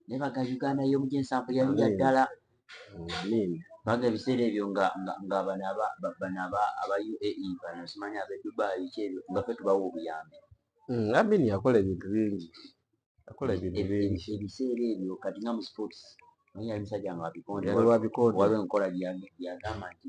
naye baga uganda yomu gyensanvu yali ya ddala baga ebiseera ebyo nga bano aba uae bano simanya abe dubai kyebyo nga fe tubawa obuyambi hmm, amini yakola ebintu bingi yakola ebintu bingi ebiseera ebyo kati nga mu sports naye yali musajja nga wabikonde waliwo enkola gyeyagamba nti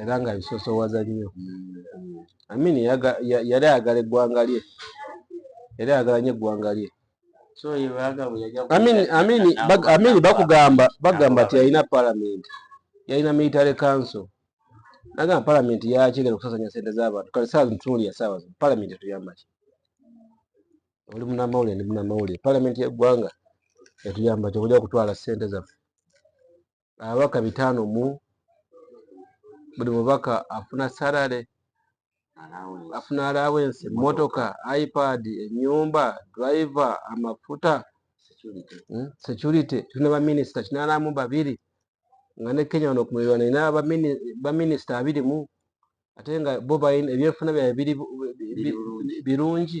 era nga bisosowaza nnyo amin yali ayagala eggwanga lye era ayagala nyo eggwanga lye amin bakugamba bagamba ti yalina palamenti yalina military council nagamba palamenti yakigenda okusasanya sente zabantu kale saa zitunuli yasaawa zino palamenti etuyambaki oli munamawulire ndi munamawulire palamenti yeggwanga etuyambaki okuja okutwala sente zaffe ababaka bitaano mu buli mubaka afuna salary afuna allowance motoka ipad enyumba driver amafuta security hmm? tulina baminisita kinanamu babiri nga ne kenya wano kumulirwa nina baminisita abiri mu ate nga bo ebyenfuna byabwe birungi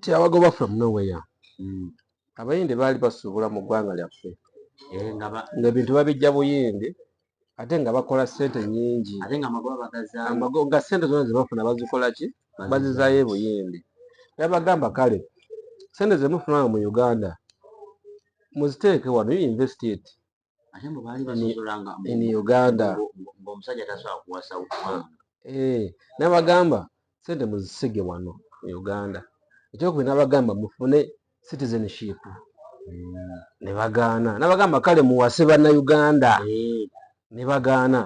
tiabagoba from nowhere mm. abayindi baali basuubula mu ggwanga lyaffe eh, ngaebintu babijja buyindi ate nga bakola sente nyingi nga sente zona zebafuna bazikola ki bazizayo ebuyindi yabagamba kale sente zemufunanga mu uganda muziteeke wano you investigate ate mbu baali basosolanga in uganda ngaomusajja tasobola kuwasa uganda eh, nabagamba sente muzisige wano e uganda ekyokubi nabagamba mufune citizenship hmm. nebagaana nabagamba kale muwase banauganda eh. nebagaana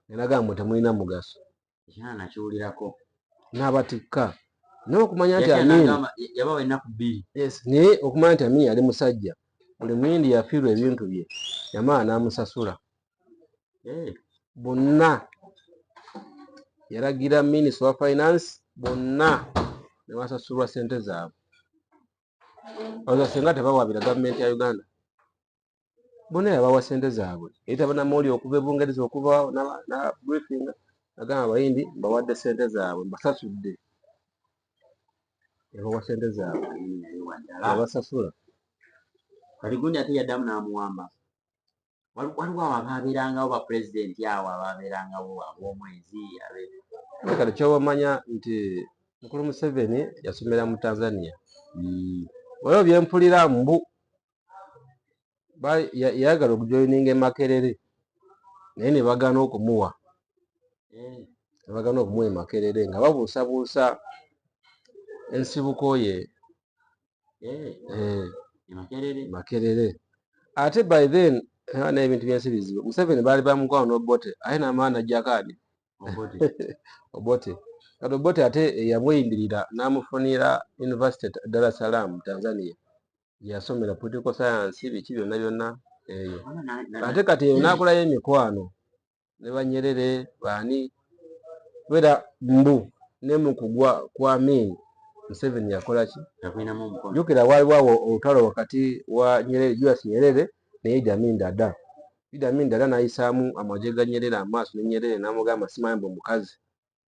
nenagamba temulina mugaso n'abatikka naye okumanya nti amini naye okumanya nti amini yali musajja buli muyindi yafiirwa ebintu bye yamala n'amusasula eh. bonna yalagira minisita wa finance bonna ne basasulwa ssente zaabwe oza singa tebawabira gavumenti ya uganda bona yabawa sente zaabwe yayita banamawuli okuva ebungereza okubaawo nabriefinga agamba abayindi mbawadde sente zaabwe mbasasudde yabawa sente zaabwe abasasula kati gundi ate yaddamu n'amuwamba waliwo abo abaabeerangawo bapulezidenti awo abaabeerangawo ab'omwezi kati kyobamanya nti mukulu museveni yasomera mu tanzania hmm. waliwo byempulira mbu yayagala okujoininga emakerere naye nebagana okumuwa nebagana okumuwa emakerere nga babuusabuusa ensibuko ye eh. Eh, makerere ate by then naye ebintu byensi bizibu museveni baali bamukwano nobote aye namaana ajjakani obote kati obote ate eyamuyingirira namufunira university dar es salaam tanzania yasomera political science biki byonna byonna eyo ate kati eyo nakulayo emikwano ne banyerere baani kubera mbu ne mu kugwa kwa min museveni yakola ki jukira waaliwo awo olutalo wakati wa nyerere julius nyerere naye idamin dada idamin dada nayisaamu amagye ga nyerere amaaso ne nyerere namugamba simanyi mbu mukazi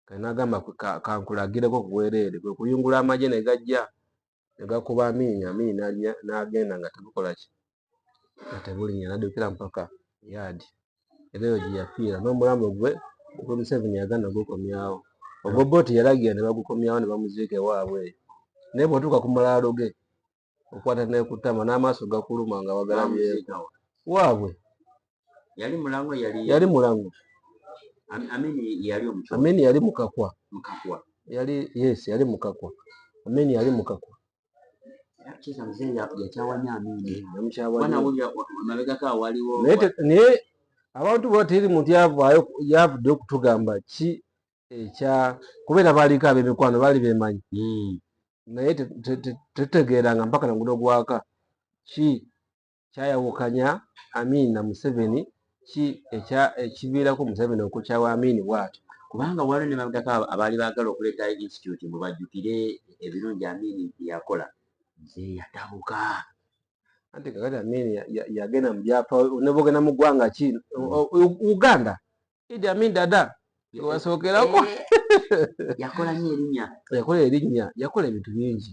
kati nagamba kankulagireko kubwerere kwekuyungula amaje negajja negakuba amiini amiini nagenda nga tebukolaki nga tebulinya nadukira mpaka yadi era eyo gyeyafiira nomulamu gwe ogwe museveni yagana gukomyawo ogwo boti yalagira nebagukomyawo nebamuziika ewaabwe eyo naye bwotuuka ku malaalo ge okwata ne ku ttama n'amaaso gakuluma nga wagalabyeko waabwe yali mulango yali yali mulango amini yali omukyala amini yali mukakwa mukakwa yali yes yali mukakwa amini yali mukakwa naye abantu bwateri muntu yavudde okutugamba ki ekya kubeera baaliko ab'emikwano baali beemanyi hmm. naye tetutegeeranga mpaka na ngudo gwaka ki kyayawukanya amiina museveni ki ekiviirako museveni okukyawa amiini bwatyo kubanga waliwo ne babdako abaali baagala okuleeta institute mwe bajjukire ebirungi amiini byeyakola nze yatabuka anti kakati amiini yagenda mu byapa nebogenda mu ggwanga ki hmm. uganda Idi Amin Dada yewasookerako yakola nyo erinya yakola erinya yakola ebintu bingi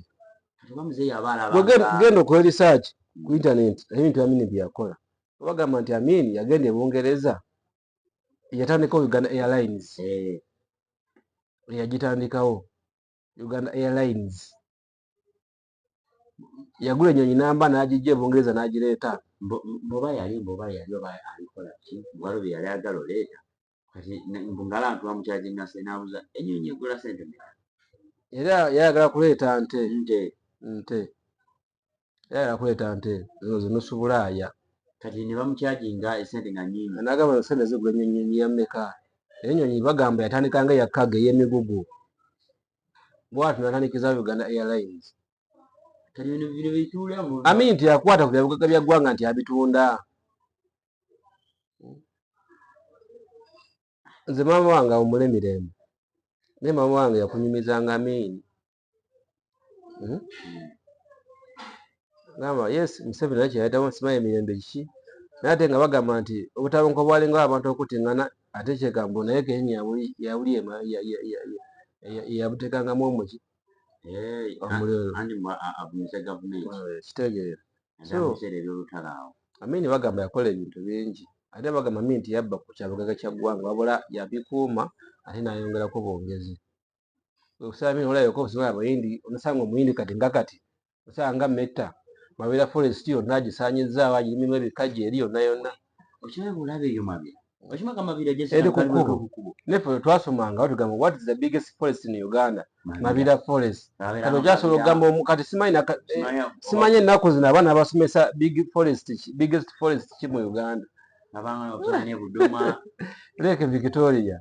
genda okola research ku internet ebintu Amin byeyakola bagamba nti Amin yagenda e Bungereza yatandikawo Uganda Airlines eh. yagitandikawo Uganda Airlines yagula enyonyi namba nagijja ebungereza nagireeta boba yali boba yali oba alikola ki walo byeyali agala oleeta kati ngala ntuwa mukyajinase nabuza enyonyi egula sente meka era yayagala kuleeta nte nte nte yayagala kuleeta nte zino zinusubulaaya kati nebamukyajinga esente nga nyingi nagamba sente zigula enyonyi yameka enyonyi bagamba yatandikanga yakkaga eyemigugu bwati natanikiza uganda airlines ami nti akwata ku byabugaga bya ggwanga nti abitunda nze maama wange awumule mirembe naye maama wange yakunyumizanga amiini hmm? gamba yes museveni naye kyeyayitamu simanyi emirembe kiki naye ate nga bagamba nti obutabanka obwalinga abantu okutingana ate kyegambo naye kenya yabuli yabutekangamu omuki kitegeera amini bagamba yakola ebintu bingi ate bagamba mi nti yabba ku kyabugaga kya ggwanga wabula yabikuuma ate nayongerako bwongezi okusaba mini olayoka okusibala abayindi omusanga omuyindi kati nga kati osanga metta mabera forest yonna agisanyizzaawo agirimu ebikaji eri yonna yonna nefe twasomanga batugamba what is the biggest forest in uganda mabira forest kano kyasobola okugamba omukati simanyi ennaku zino abaana abasomesa big forest biggest forest ki mu uganda leke victoria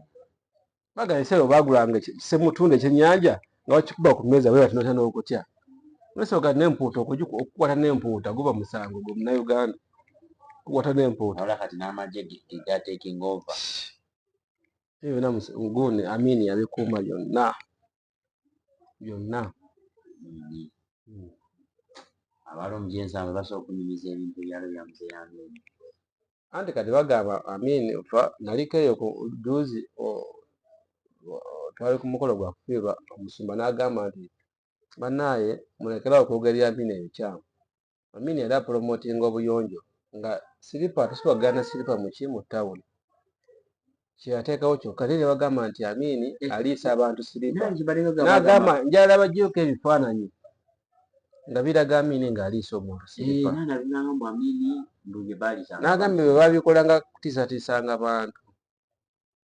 bagala esayo bagulanga semutunda ekyenyanja nga wakikuba ku mmeeza bwe batinota n'okutya nosoboka n'empuuta okukwata n'empuuta guba musango gwe munauganda okukwata n'empuuta eyo byona muguni amini yabikuuma byonna byonna hmm. abali omujensi abo basobola okunyumiza ebintu ebyalo byamuze yange anti kati bagamba amin fa naliko eyo ku juzi twali ku mukolo gwa kufiirwa omusumba n'agamba nti bannaaye mulekerawo okwogera amin ebikyamu Amini era promotinga obuyonjo nga silipa atusiba gana silipa muki mu town kyeyateekawo kyokka naye nebagamba nti Amini eh. aliisa abantu silipa nagamba njala bagyuka ebifaananyi nga biraga Amini nga aliisa omuntu silipa eh, nagambye bwe babikolanga kutisatiisanga bantu